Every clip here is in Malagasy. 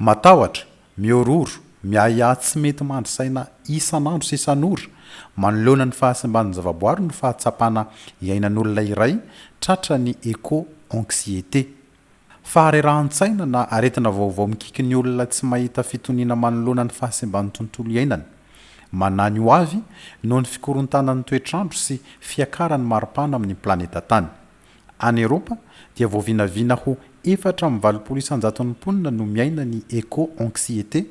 Matahotra, mihorohoro, miahiahy tsy mety mandry saina isan'andro sy isan'ora, manoloana ny fahasimban'ny zavaboary no fahatsapana iainan'olona iray tratra ny éco-anxiété. Faharerahan-tsaina na aretina vaovao mikiky ny olona tsy mahita fitoniana manoloana ny fahasimban'ny tontolo iainany. Manahy ny ho avy noho ny fikorontanan'ny toetr'andro sy fiakaran'ny maripana amin'ny planeta Tany. Any Eropa, dia voavinavina ho efatra amby valopolo isan-jaton'ny mponina no miaina ny éco-anxiété,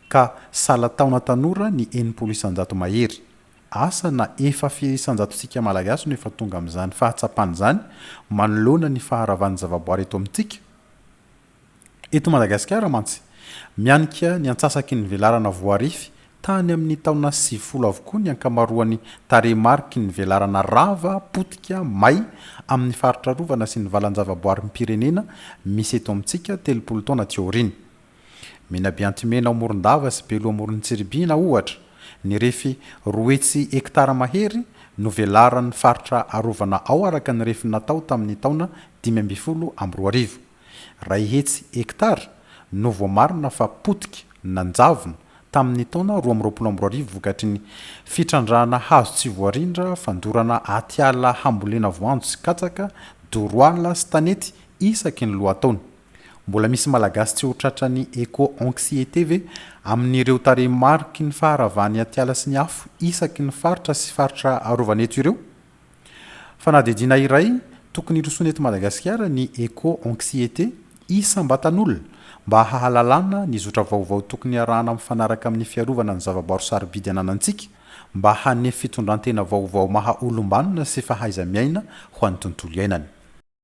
ka sahala taona tanora ny enimpolo isan-jato mahery. Asa na efa firy isan-jatontsika Malagasy no efa tonga amin'izany fahatsapana izany manoloana ny faharavan'ny zavaboary eto amintsika? Eto Madagasikara mantsy, mianika ny antsasaky ny velarana voarify tany amin'ny taona sivifolo avokoa ny ankamaroan'ny tarehimariky ny velarana rava, potika, may amin'ny faritra arovana sy ny valanjavaboarim-pirenena misy eto amintsika telopolo taona aty aoriana. Menabeantimena ao Morondava sy Belo Amorontsiribihina, ohatra, nirefy roa hetsy hektara mahery no velaran'ny faritra arovana ao araka ny refiny natao tamin'ny taona dimy ambin'ny folo amby roa arivo. Iray hetsy hektara no voamarina fa potika, nanjavona, tamin'ny taona roa amby roapolo amby roa arivo vokatry ny fitrandrahana hazo tsy voarindra, fandorana atiala hambolena voanjo sy katsaka, doroala sy tanety isaky ny lohataona. Mbola misy Malagasy tsy ho tratran'ny eco-anxiété ve amin'ireo tarehimariky ny faharavan'ny atiala sy ny afo isaky ny faritra sy faritra arovana eto ireo? Fanadihadiana iray tokony hirosoana eto Madagasikara ny Eco-Anxiété, Isam-batan'olona, mba hahalalana ny zotra vaovao tokony harahana mifanaraka amin'ny fiarovana ny zava-barotra sarobidy ananantsika, mba hanefy fitondran-tena vaovao maha-olom-banona sy fahaiza-miaina ho an'ny tontolo iainana.